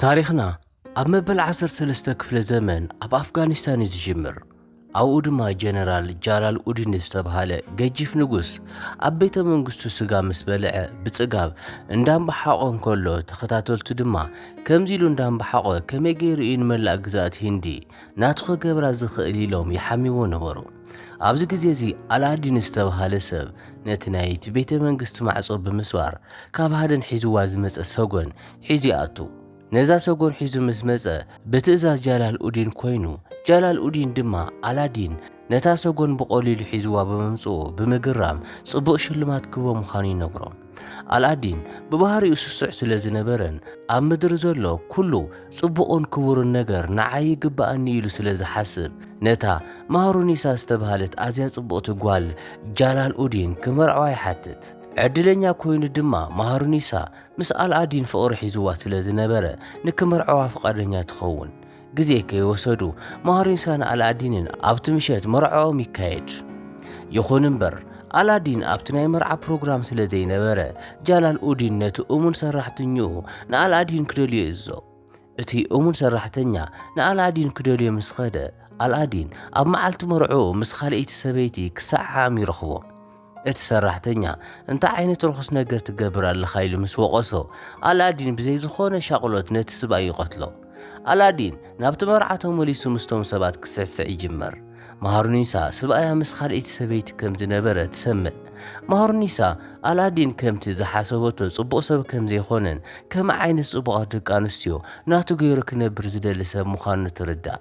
ታሪኽና ኣብ መበል ዓሰርተ ሰለስተ ክፍለ ዘመን ኣብ ኣፍጋኒስታን እዩ ዝጅምር ኣብኡ ድማ ጀነራል ጃላል ኡዲን ዝተብሃለ ገጂፍ ንጉስ ኣብ ቤተ መንግስቱ ስጋ ምስ በልዐ ብጽጋብ እንዳምባሓቖ እንከሎ ተኸታተልቱ ድማ ከምዚ ኢሉ እንዳምባሓቖ ከመይ ገይሩ እዩ ንመላእ ግዛኣት ሂንዲ ናቱ ክገብራ ዝኽእል ኢሎም ይሓምይዎ ነበሩ። ኣብዚ ግዜ እዚ ኣላዲን ዝተብሃለ ሰብ ነቲ ናይቲ ቤተ መንግስቲ ማዕጾ ብምስባር ካብ ሃደን ሒዝዋ ዝመጸ ሰጎን ሒዙ ይኣቱ። ነዛ ሰጎን ሒዙ ምስ መጸ ብትእዛዝ ጃላል ኡዲን ኮይኑ ጃላል ኡዲን ድማ ኣላዲን ነታ ሰጎን ብቐሊሉ ሒዝዋ ብምምጽኡ ብምግራም ጽቡቕ ሽልማት ክህቦ ምዃኑ ይነግሮም። ኣልኣዲን ብባህሪኡ ስሱዕ ስለ ዝነበረን ኣብ ምድሪ ዘሎ ኩሉ ጽቡቕን ክቡርን ነገር ንዓይ ይግብኣኒ ኢሉ ስለ ዝሓስብ ነታ ማህሩኒሳ ዝተባህለት ኣዝያ ጽቡቕቲ ጓል ጃላል ኡዲን ክመርዕዋ ይሓትት። ዕድለኛ ኮይኑ ድማ ማህሩኒሳ ምስ ኣልኣዲን ፍቕሪ ሒዝዋ ስለ ዝነበረ ንክመርዕዋ ፍቓደኛ ትኸውን። ግዜ ከይወሰዱ ማሪንሳን ኣላዲንን ኣብቲ ምሸት መርዕኦም ይካየድ። ይኹን እምበር ኣላዲን ኣብቲ ናይ መርዓ ፕሮግራም ስለ ዘይነበረ ጃላል ኡዲን ነቲ እሙን ሰራሕተኛኡ ንኣላዲን ክደልዮ ይእዝዞ። እቲ እሙን ሰራሕተኛ ንኣላዲን ክደልዮ ምስ ኸደ ኣላዲን ኣብ መዓልቲ መርዕኡ ምስ ኻልኣይቲ ሰበይቲ ክሰዓዓም ይረኽቦ። እቲ ሰራሕተኛ፣ እንታይ ዓይነት ርኹስ ነገር ትገብር ኣለኻ? ኢሉ ምስ ወቐሶ፣ ኣላዲን ብዘይ ዝኾነ ሻቕሎት ነቲ ስብኣይ ይቐትሎ። ኣላዲን ናብቲ መርዓ ተመሊሱ ምስቶም ሰባት ክስዕስዕ ይጅምር። ማሃሩኒሳ ስብኣያ ምስ ካልኣይቲ ሰበይቲ ከም ዝነበረ ትሰምዕ። ማሃሩኒሳ፣ ኣላዲን ከምቲ ዝሓሰበቶ ጽቡቕ ሰብ ከም ዘይኮነን ከምኡ ዓይነት ጽቡቓት ደቂ ኣንስትዮ ናቱ ገይሩ ክነብር ዝደሊ ሰብ ምዃኑ ትርዳእ።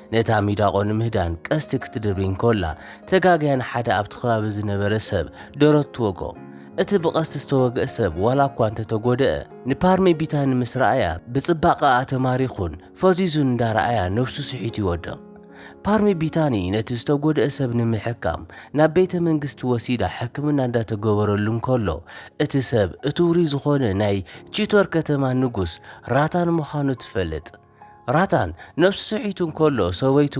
ነታ ሚዳቆ ንምህዳን ቀስቲ ክትድርቢ እንከላ ተጋግያ ንሓደ ኣብቲ ከባቢ ዝነበረ ሰብ ደረት ትወግኦ። እቲ ብቐስቲ ዝተወግአ ሰብ ዋላ እኳ እንተ ተጎድኣ፣ ንፓርሜ ቢታኒ ምስ ረኣያ ብጽባቐኣ ተማሪኹን ፈዚዙን እንዳ ረኣያ ነብሱ ስሒቱ ይወድቕ። ፓርሜ ቢታኒ ነቲ ዝተጎድኣ ሰብ ንምሕካም ናብ ቤተ መንግስቲ ወሲዳ ሕክምና እንዳ ተገበረሉ እንከሎ፣ እቲ ሰብ እቲ ውሩይ ዝኾነ ናይ ቺቶር ከተማ ንጉስ ራታን ምዃኑ ትፈልጥ። ራታን ነብሱ ስሒቱ እንከሎ ሰበይቱ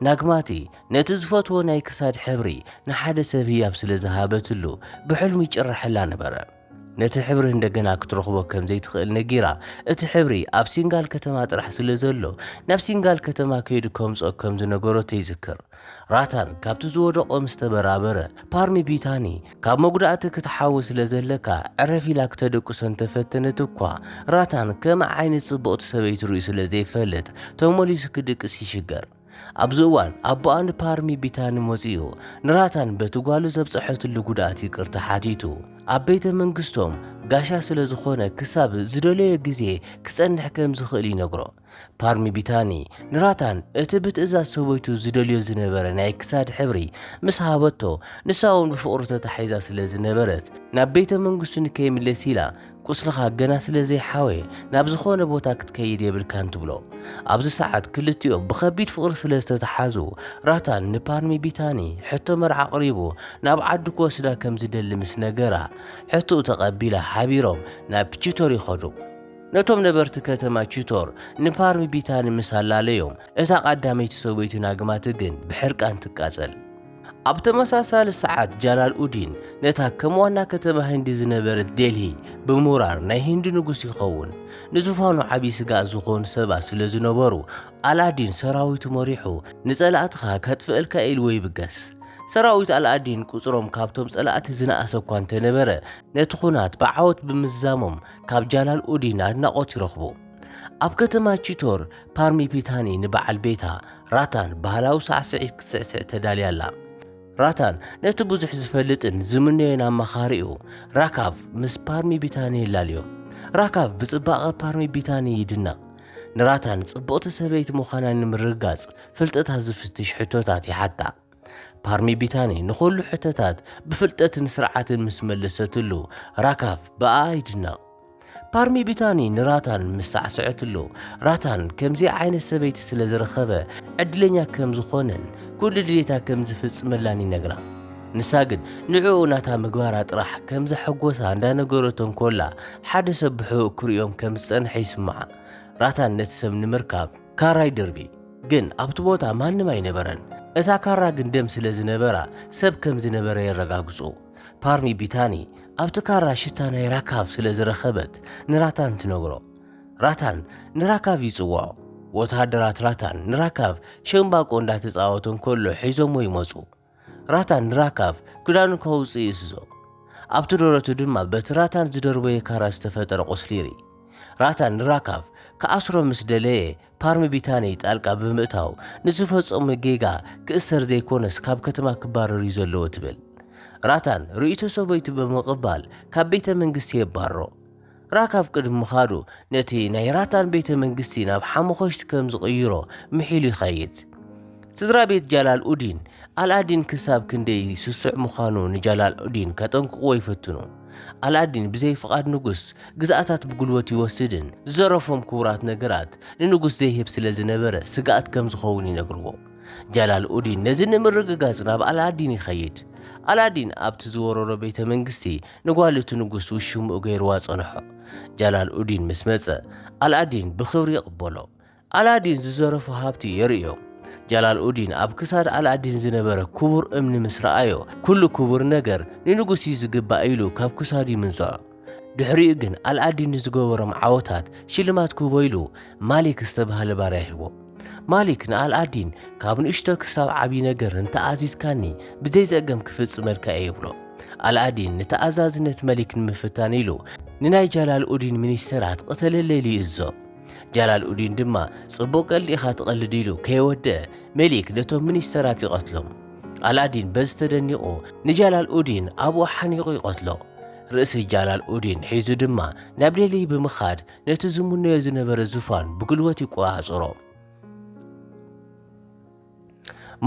ናግማቲ ነቲ ዝፈትዎ ናይ ክሳድ ሕብሪ ንሓደ ሰብ ህያብ ስለ ዝሃበትሉ ብሕልሙ ይጭረሐላ ነበረ። ነቲ ሕብሪ እንደገና ክትረኽቦ ከም ዘይትኽእል ነጊራ እቲ ሕብሪ ኣብ ሲንጋል ከተማ ጥራሕ ስለ ዘሎ ናብ ሲንጋል ከተማ ከይዱ ከምጽኦ ከም ዝነገረቶ ይዝክር። ራታን ካብቲ ዝወደቆ ምስ ተበራበረ፣ ፓርሚ ቢታኒ ካብ መጉዳእቲ ክትሓዊ ስለ ዘለካ ዕረፍ ኢላ ክተደቅሶ እንተ ፈተነት እኳ፣ ራታን ከምኣ ዓይነት ጽብቕቲ ሰበይቲ ርእዩ ስለ ዘይፈልጥ ተመሊሱ ክድቅስ ይሽገር። ኣብዚ እዋን ኣቦኣ ንፓርሚ ቢታኒ መጺኡ ንራታን በቲ ጓሉ ዘብጸሐትሉ ጉድኣት ይቅርታ ሓቲቱ ኣብ ቤተ መንግስቶም ጋሻ ስለ ዝኾነ ክሳብ ዝደለዮ ግዜ ክጸንሕ ከም ዝኽእል ይነግሮ። ፓርሚ ቢታኒ ንራታን እቲ ብትእዛዝ ሰበይቱ ዝደልዮ ዝነበረ ናይ ክሳድ ሕብሪ ምስ ሃበቶ ንሳ እውን ብፍቕሩ ተታሒዛ ስለ ዝነበረት ናብ ቤተ መንግስቱ ንከይምለስ ኢላ ቁስልኻ ገና ስለ ዘይሓወየ ናብ ዝኾነ ቦታ ክትከይድ የብልካን ትብሎ። ኣብዚ ሰዓት ክልቲኦም ብከቢድ ፍቕሪ ስለ ዝተተሓዙ ራታን ንፓርሚ ቢታኒ ሕቶ መርዓ ኣቕሪቡ ናብ ዓዱ ክወስዳ ከም ዝደሊ ምስ ነገራ ሕቶኡ ተቐቢላ ሓቢሮም ናብ ፒቺቶር ይኸዱ። ነቶም ነበርቲ ከተማ ቺቶር ንፓርሚ ቢታኒ ምስ ኣላለዮም፣ እታ ቐዳመይቲ ሰበይቱ ናግማቲ ግን ብሕርቃን ትቃጸል። ኣብ ተመሳሳሊ ሰዓት ጃላልኡዲን ነታ ከም ዋና ከተማ ህንዲ ዝነበረት ዴልሂ ብምውራር ናይ ህንዲ ንጉስ ይኸውን። ንዙፋኑ ዓብዪ ስግኣት ዝኾኑ ሰባት ስለ ዝነበሩ፣ ኣላዲን ሰራዊቱ መሪሑ ንጸላእትኻ ከጥፍእልካ ኢልዎ ይብገስ። ሰራዊት ኣላዲን ቁጽሮም ካብቶም ጸላእቲ ዝነኣሰ እኳ እንተነበረ፣ ነቲ ኹናት ብዓወት ብምዝዛሞም ካብ ጃላል ኡዲን ኣድናቖት ይረኽቡ። ኣብ ከተማ ቺቶር፣ ፓርሚ ፒታኒ ንበዓል ቤታ ራታን ባህላዊ ሳዕስዒት ክትስዕስዕ ተዳልያ ኣላ። ራታን ነቲ ብዙሕ ዝፈልጥን ዝምነዮን ኣማኻሪኡ ራካቭ ምስ ፓርሚ ቢታኒ የላልዮ። ራካቭ ብጽባቐ ፓርሚ ቢታኒ ይድነቕ። ንራታን ጽብቕቲ ሰበይቲ ምዃና ንምርግጋጽ ፍልጠታ ዝፍትሽ ሕቶታት ይሓታ። ፓርሚ ቢታኒ ንኹሉ ሕተታት ብፍልጠትን ስርዓትን ምስ መለሰትሉ ራካፍ ብኣኣ ይድነቕ። ፓርሚ ቢታኒ ንራታን ምስ ሳዕሰዐትሉ ራታን ከምዚኣ ዓይነት ሰበይቲ ስለ ዝረኸበ ዕድለኛ ከም ዝኾነን ኩሉ ድሌታ ከም ዝፍጽመላን ይነግራ። ንሳ ግን ንዕኡ ናታ ምግባራ ጥራሕ ከም ዘሐጎሳ እንዳነገረቶ እንኮላ ሓደ ሰብ ብሕቡእ ክርእዮም ከም ዝጸንሐ ይስምዓ። ራታን ነቲ ሰብ ንምርካብ ካራ ይድርቢ፣ ግን ኣብቲ ቦታ ማንም ኣይነበረን። እታ ካራ ግን ደም ስለ ዝነበራ ሰብ ከም ዝነበረ የረጋግጹ። ፓርሚ ቢታኒ ኣብቲ ካራ ሽታ ናይ ራካቭ ስለ ዝረኸበት ንራታን ትነግሮ። ራታን ንራካቭ ይጽውዖ። ወተሃደራት ራታን ንራካቭ ሸምባቆ እንዳተጻወተ እንከሎ ሒዞሞ ይመጹ። ራታን ንራካቭ ክዳኑ ከውጽእ ይእዝዞ። ኣብቲ ደረቱ ድማ በቲ ራታን ዝደርበዮ ካራ ዝተፈጠረ ቁስሊ ይርኢ። ራታን ንራካቭ ክኣስሮ ምስ ደለየ ፓርሚ ቢታኒ ጣልቃ ብምእታው ንዝፈጸሞ ጌጋ ክእሰር ዘይኮነስ ካብ ከተማ ክባረር እዩ ዘለዎ ትብል። ራታን ርእይቶ ሰበይቱ ብምቕባል ካብ ቤተ መንግስቲ የባርሮ። ራካብ ቅድሚ ምኻዱ ነቲ ናይ ራታን ቤተ መንግስቲ ናብ ሓሙኾሽቲ ከም ዝቕይሮ ምሒሉ ይኸይድ። ስድራ ቤት ጃላል ኡዲን ኣልኣዲን ክሳብ ክንደይ ስሱዕ ምዃኑ ንጃላል ኡዲን ከጠንቅቕዎ ይፍትኑ። ኣልኣዲን ብዘይ ፍቓድ ንጉስ ግዝኣታት ብጉልበት ይወስድን ዝዘረፎም ክቡራት ነገራት ንንጉስ ዘይህብ ስለ ዝነበረ ስግኣት ከም ዝኸውን ይነግርዎ። ጃላል ኡዲን ነዚ ንምርግጋጽ ናብ ኣልኣዲን ይኸይድ። ኣልኣዲን ኣብቲ ዝወረሮ ቤተ መንግስቲ ንጓል እቲ ንጉስ ውሽምኡ ገይርዋ ጸንሖ። ጃላል ኡዲን ምስ መጸ፣ ኣልኣዲን ብኽብሪ ይቕበሎ። ኣልኣዲን ዝዘረፎ ሃብቲ የርእዮ። ጃላል ኡዲን ኣብ ክሳድ ኣልኣዲን ዝነበረ ክቡር እምኒ ምስ ረኣዮ፣ ኩሉ ክቡር ነገር ንንጉስ እዩ ዝግባእ ኢሉ ካብ ክሳዱ ይምንዝዖ። ድሕሪኡ ግን ኣልኣዲን ንዝገበሮም ዓወታት ሽልማት ክህቦ ኢሉ ማሊክ ዝተባህለ ባርያ ይህቦ። ማሊክ ንኣልኣዲን ካብ ንእሽቶ ክሳብ ዓብዪ ነገር እንተኣዚዝካኒ ብዘይ ዘእገም ክፍጽመልካ እየ ይብሎ ኣልኣዲን ንተኣዛዝነት መሊክ ንምፍታን ኢሉ ንናይ ጃላል ኡዲን ሚኒስተራት ቕተለለይሉ ይእዞ ጃላል ኡዲን ድማ ጽቡቕ ቀልዲ ኢኻ ትቐልድ ኢሉ ከየወደአ መሊክ ነቶም ሚኒስተራት ይቐትሎም ኣልኣዲን በዚ ተደኒቑ ንጃላል ኡዲን ኣብኡ ሓኒቑ ይቐትሎ ርእሲ ጃላል ኡዲን ሒዙ ድማ ናብ ዴልሂ ብምኻድ ነቲ ዝምነዮ ዝነበረ ዝፋን ብግልወት ይቆጻጸሮ።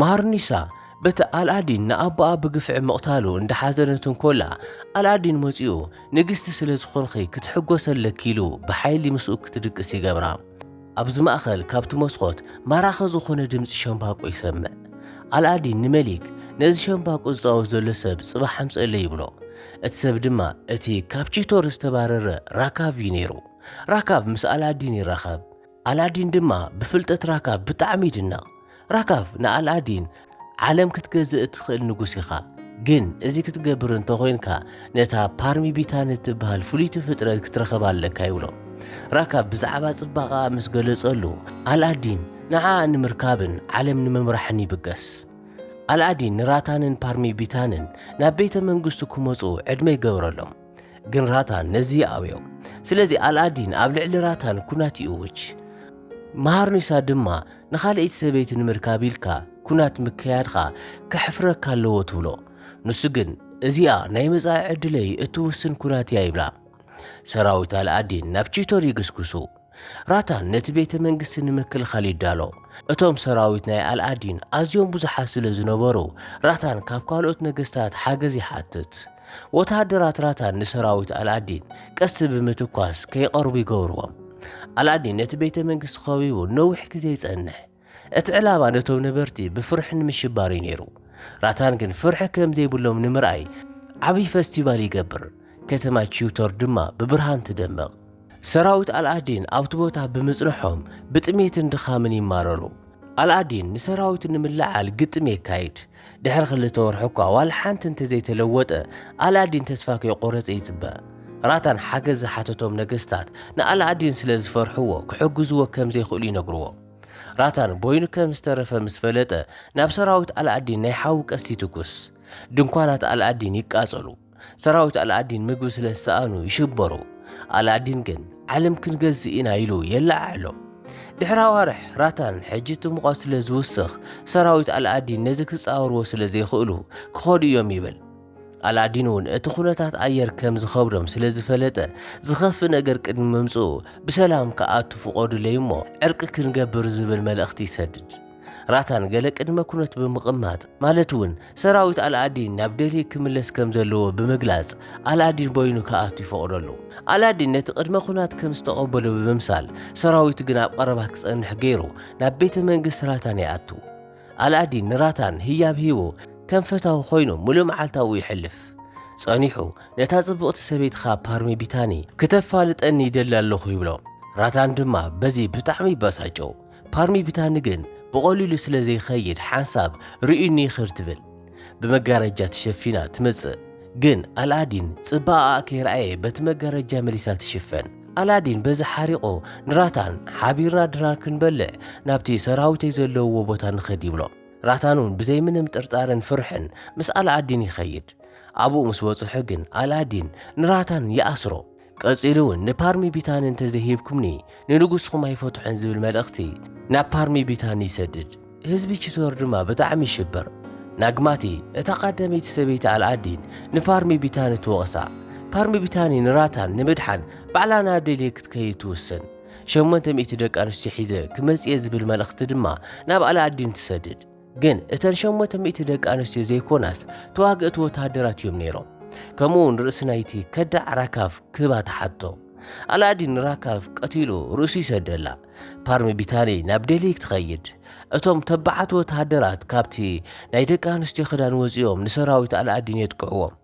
ማርኒሳ በቲ ኣልኣዲን ንኣቦኣ ብግፍዒ ምቕታሉ እንዳሓዘነት እንኮላ ኣልኣዲን መጺኡ ንግስቲ ስለ ዝኾንኺ ክትሕጎሰለኪ ኢሉ ብሓይሊ ምስኡ ክትድቅስ ይገብራ ኣብዚ ማእኸል ካብቲ መስኮት ማራኺ ዝኾነ ድምፂ ሸምባቆ ይሰምዕ ኣልኣዲን ንመሊክ ነዚ ሸምባቆ ዝፃወት ዘሎ ሰብ ፅባሕ ኣምፀለይ ይብሎ እቲ ሰብ ድማ እቲ ካብ ቺቶር ዝተባረረ ራካቭ እዩ ነይሩ። ራካቭ ምስ ኣላዲን ይራኸብ፣ ኣላዲን ድማ ብፍልጠት ራካቭ ብጣዕሚ ይድነቕ። ራካቭ ንኣላዲን ዓለም ክትገዝእ እትኽእል ንጉስ ኢኻ፣ ግን እዚ ክትገብር እንተኾይንካ ነታ ፓርሚ ቢታን እትበሃል ፍልይቲ ፍጥረት ክትረኸብ ኣለካ ይብሎ። ራካቭ ብዛዕባ ጽባቐኣ ምስ ገለጸሉ ኣላዲን ንዓኣ ንምርካብን ዓለም ንምምራሕን ይብገስ። ኣልኣዲን ንራታንን ፓርሚ ቢታንን ናብ ቤተ መንግስቱ ክመፁ ዕድመ ይገብረሎም ግን ራታን ነዚ ይኣብዮ ስለዚ ኣልኣዲን ኣብ ልዕሊ ራታን ኩናት ይእውጅ መሃርኒሳ ድማ ንኻልእይቲ ሰበይቲ ንምርካብ ኢልካ ኩናት ምክያድኻ ከሕፍረካ ኣለዎ ትብሎ ንሱ ግን እዚኣ ናይ መጻኢ ዕድለይ እትውስን ኩናት እያ ይብላ ሰራዊት ኣልኣዲን ናብ ቺቶር ይግስግሱ ራታን ነቲ ቤተ መንግስቲ ንምክልኻል ይዳሎ። እቶም ሰራዊት ናይ ኣልኣዲን ኣዝዮም ብዙሓት ስለ ዝነበሩ፣ ራታን ካብ ካልኦት ነገስታት ሓገዝ ይሓትት። ወተሃደራት ራታን ንሰራዊት ኣልኣዲን ቀስቲ ብምትኳስ ከይቐርቡ ይገብርዎም። ኣልኣዲን ነቲ ቤተ መንግስቲ ኸቢቡ ነዊሕ ግዜ ይጸንሕ። እቲ ዕላማ ነቶም ነበርቲ ብፍርሒ ንምሽባር እዩ ነይሩ። ራታን ግን ፍርሒ ከም ዘይብሎም ንምርኣይ ዓብዪ ፈስቲቫል ይገብር፣ ከተማ ቺውቶር ድማ ብብርሃን ትደምቕ። ሰራዊት ኣልኣዲን ኣብቲ ቦታ ብምጽንሖም ብጥሜትን ድኻምን ይማረሩ። ኣልኣዲን ንሰራዊቱ ንምልዕዓል ግጥም የካይድ። ድሕሪ ክልተ ወርሒ እኳ ዋላ ሓንቲ እንተ ዘይተለወጠ፣ ኣልኣዲን ተስፋ ከይቆረጸ ይጽበ። ራታን ሓገዝ ዝሓተቶም ነገስታት ንኣልኣዲን ስለ ዝፈርሕዎ ክሕግዝዎ ከም ዘይክእሉ ይነግርዎ። ራታን ቦይኑ ከም ዝተረፈ ምስ ፈለጠ ናብ ሰራዊት ኣልኣዲን ናይ ሓዊ ቀስት ይትኩስ። ድንኳናት ኣልኣዲን ይቃጸሉ። ሰራዊት ኣልኣዲን ምግቢ ስለ ዝሰኣኑ ይሽበሩ። ኣልኣዲን ግን ዓለም ክንገዝእ ኢና ኢሉ የለዓዕሎም። ድሕሪ ኣዋርሕ ራታን ሕጂ እቲ ሙቐት ስለ ዝውስኽ ሰራዊት ኣልኣዲን ነዚ ክጻወርዎ ስለ ዘይኽእሉ ክኸዱ እዮም ይብል። ኣላዲን እውን እቲ ኩነታት ኣየር ከም ዝኸብዶም ስለ ዝፈለጠ ዝኸፍእ ነገር ቅድሚ ምምጽኡ ብሰላም ክኣቱ ፍቐዱለይ እሞ ዕርቂ ክንገብር ዝብል መልእኽቲ ይሰድድ። ራታን ገለ ቅድመ ኩነት ብምቕማጥ ማለት እውን ሰራዊት ኣልኣዲን ናብ ደልሂ ክምለስ ከም ዘለዎ ብምግላጽ ኣልኣዲን በይኑ ክኣቱ ይፈቕደሉ። ኣላዲን ነቲ ቅድመ ኩናት ከም ዝተቐበሎ ብምምሳል ሰራዊቱ ግን ኣብ ቐረባ ክጸንሕ ገይሩ ናብ ቤተ መንግስቲ ራታን ይኣቱ። ኣልኣዲን ንራታን ህያብ ሂቡ ከም ፈታዊ ኮይኑ ምሉእ መዓልታዊ ይሕልፍ። ጸኒሑ ነታ ጽብቕቲ ሰበይትኻ ፓርሚቢታኒ ክተፋልጠኒ ይደሊ ኣለኹ ይብሎ። ራታን ድማ በዚ ብጣዕሚ ይበሳጮ። ፓርሚቢታኒ ግን ብቐሊሉ ስለ ዘይኸይድ ሓንሳብ ርእዩኒ ይኽድ ትብል። ብመጋረጃ ተሸፊና ትመጽእ። ግን ኣልኣዲን ጽባቐኣ ከይረኣየ በቲ መጋረጃ መሊሳ ትሽፈን። ኣላዲን በዚ ሓሪቑ ንራታን ሓቢርና ድራር ክንበልዕ ናብቲ ሰራዊተይ ዘለውዎ ቦታ ንኸድ ይብሎ ራታን እውን ብዘይ ምንም ጥርጣርን ፍርሕን ምስ ኣልኣዲን ይኸይድ ኣብኡ ምስ በጽሑ ግን ኣልኣዲን ንራታን ይኣስሮ ቀጺሉ እውን ንፓርሚ ቢታኒ እንተዘይሂብኩምኒ ንንጉስኹም ኣይፈትሖን ዝብል መልእኽቲ ናብ ፓርሚ ቢታኒ ይሰድድ። ህዝቢ ቺቶር ድማ ብጣዕሚ ይሽበር። ናግማቲ፣ እታ ቐዳመይቲ ሰበይቲ ኣልኣዲን፣ ንፓርሚ ቢታኒ ትወቕሳ። ፓርሚ ቢታኒ ንራታን ንምድሓን ባዕላ ናብ ዴልሂ ክትከይድ ትውስን። ሸሞንተ ሚእቲ ደቂ ኣንስትዮ ሒዘ ክመጽእ'የ ዝብል መልእኽቲ ድማ ናብ ኣልኣዲን ትሰድድ። ግን እተን ሸሞንተ ሚእቲ ደቂ ኣንስትዮ ዘይኮናስ ተዋግእቲ ወተሃደራት እዮም ነይሮም። ከምኡውን ርእሲ ናይቲ ከዳዕ ራካቭ ክህባ ተሓቶ። ኣላዲን ራካቭ ቀቲሉ ርእሱ ይሰደላ። ፓርሚ ቢታኒ ናብ ደልሂ ክትኸይድ እቶም ተባዓት ወተሃደራት ካብቲ ናይ ደቂ ኣንስትዮ ክዳን ወጺኦም ንሰራዊት ኣላዲን የጥቅዕዎም።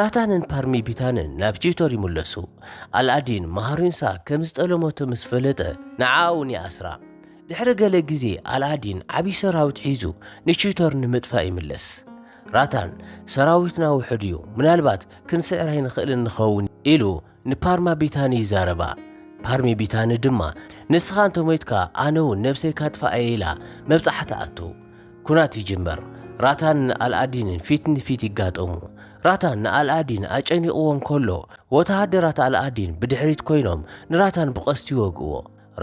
ራታንን ፓርሚ ቢታንን ናብ ቺቶር ይምለሱ። ኣልኣዲን ማሃሪንሳ ከም ዝጠለመቶ ምስ ፈለጠ ንዓኣ እውን ይኣስራ። ድሕሪ ገለ ግዜ ኣልኣዲን ዓብዪ ሰራዊት ሒዙ ንቺቶር ንምጥፋእ ይምለስ። ራታን ሰራዊትና ውሑድ እዩ፣ ምናልባት ክንስዕር ኣይንኽእልን ንኸውን ኢሉ ንፓርማ ቢታኒ ይዛረባ። ፓርሚ ቢታኒ ድማ ንስኻ እንተ ሞይትካ ኣነ እውን ነብሰይ ካጥፍኣ እየ ኢላ መብጽዓ ትኣቱ። ኩናት ይጅመር። ራታን ን ኣልኣዲንን ፊት ንፊት ይጋጠሙ። ራታን ንኣልኣዲን ኣጨኒቕዎ እንከሎ ወተሃደራት ኣልኣዲን ብድሕሪት ኮይኖም ንራታን ብቐስቲ ይወግእዎ።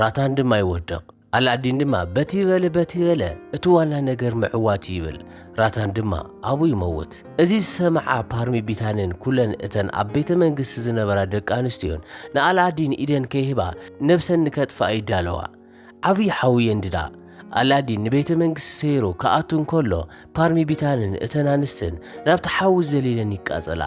ራታን ድማ ይወድቕ። ኣላዲን ድማ በቲ በለ በቲ በለ እቲ ዋና ነገር ምዕዋት እዩ ይብል። ራታን ድማ ኣብኡ ይመውት። እዚ ዝሰምዓ ፓርሚ ቢታንን ኩለን እተን ኣብ ቤተ መንግስቲ ዝነበራ ደቂ ኣንስትዮን ንኣላዲን ኢደን ከይህባ ነብሰን ንከጥፍኣ ይዳለዋ። ዓብዪ ሓዊ የንድዳ። ኣላዲን ንቤተ መንግስቲ ሰይሩ ክኣቱ እንከሎ ፓርሚ ቢታንን እተን ኣንስትን ናብቲ ሓዊ ዘሊለን ይቃጸላ።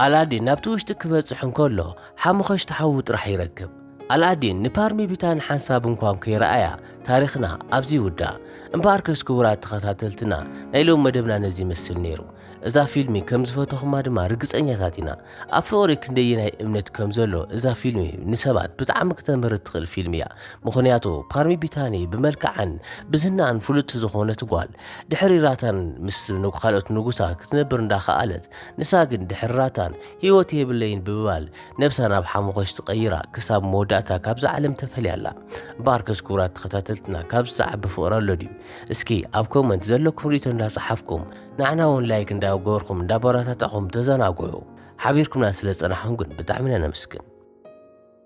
ኣላዲን ናብቲ ውሽጢ ክበጽሕ እንከሎ ሓሙኸሽቲ ሓዉ ጥራሕ ይረክብ። ኣላዲን ንፓርሚቢታ ንሓንሳብ እንኳን ከይረኣያ ታሪኽና ኣብዚ ይውዳእ። እምበኣርከስ ክቡራት ተኸታተልትና ናይ ሎሚ መደብና ነዚ ይመስል ነይሩ። እዛ ፊልሚ ከም ዝፈተኹማ ድማ ርግጸኛታት ኢና። ኣብ ፍቕሪ ክንደየናይ እምነት ከም ዘሎ እዛ ፊልሚ ንሰባት ብጣዕሚ ክተምህር እትኽእል ፊልሚ እያ። ምኽንያቱ ፓርሚ ቢታኒ ብመልክዓን ብዝናኣን ፍሉጥቲ ዝኾነት ጓል ድሕሪ ራታን ምስ ካልኦት ንጉሳ ክትነብር እንዳኸኣለት ንሳ ግን ድሕሪ ራታን ህይወት የብለይን ብምባል ነብሳ ናብ ሓሙኸሽቲ ቀይራ ክሳብ መወዳእታ ካብዛ ዓለም ተፈልያ ኣላ። እምበኣርከስ ክቡራት ተኸታተልትና ካብዚ ዝዓቢ ፍቕሪ ኣሎ ድዩ? እስኪ ኣብ ኮመንት ዘለኩም ርእይቶ እንዳጸሓፍኩም ንዓና እውን ላይክ እንዳገበርኩም እንዳበረታታዕኹም ተዘናግዑ። ሓቢርኩምና ስለ ዝጸናሕኩም ግን ብጣዕሚ ኢና ነመስግን።